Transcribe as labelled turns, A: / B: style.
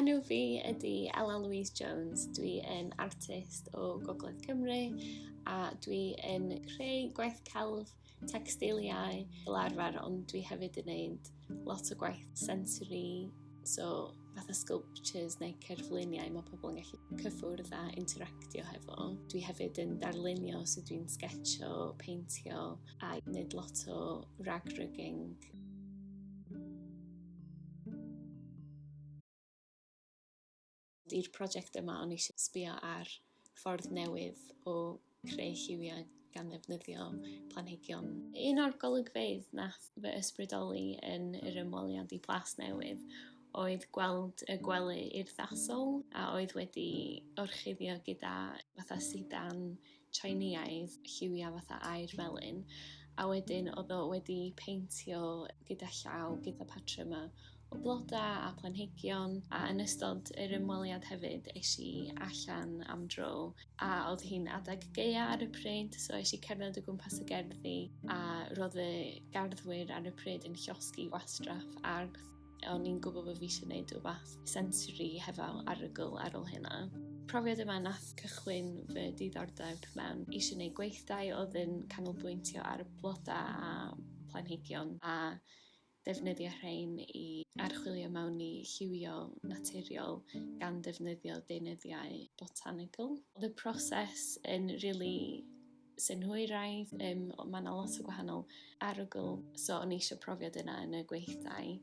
A: Enw fi ydy Ella Louise Jones. Dwi yn artist o Gogledd Cymru a dwi yn creu gwaith celf, textiliau fel arfer ond dwi hefyd yn gwneud lot o gwaith sensory so fatha sculptures neu cerfluniau mae pobl yn gallu cyffwrdd a interactio hefo. Dwi hefyd yn darlunio so dwi'n sgetio, peintio a wneud lot o rag rigging. I'r prosiect yma o'n eisiau sbio ar ffordd newydd o creu lliwiau gan ddefnyddio planhigion. Un o'r golygfeydd nath fy ysbrydoli yn yr ymweliad i Plas Newydd oedd gweld y gwely urddasol a oedd wedi orchuddio gyda fatha sidan Tsieineaidd lliwiau fatha aur felyn a wedyn oedd o wedi peintio gyda llaw gyda patrymau o blodau a planhigion a yn ystod yr ymweliad hefyd eisiau i allan am dro a oedd hi'n adeg geia ar y pryd so eisiau i cerdded o gwmpas y gerddi a roedd y garddwyr ar y pryd yn llosgi gwastraff ardd. O'n i'n gwybod bod fi eisiau gwneud rhywbeth sensory hefo arogl ar ôl hynna. Profiad yma nath cychwyn fy diddordeb mewn eisiau gwneud gweithdai oedd yn canolbwyntio ar blodau a planhigion a defnyddio rhain i archwilio mewn i lliwio naturiol gan ddefnyddio deunyddiau botanical. Oedd y proses yn rili synhwyraidd, um, mae yna lot o gwahanol arogl, so o'n eisiau profiad yna yn y gweithdai.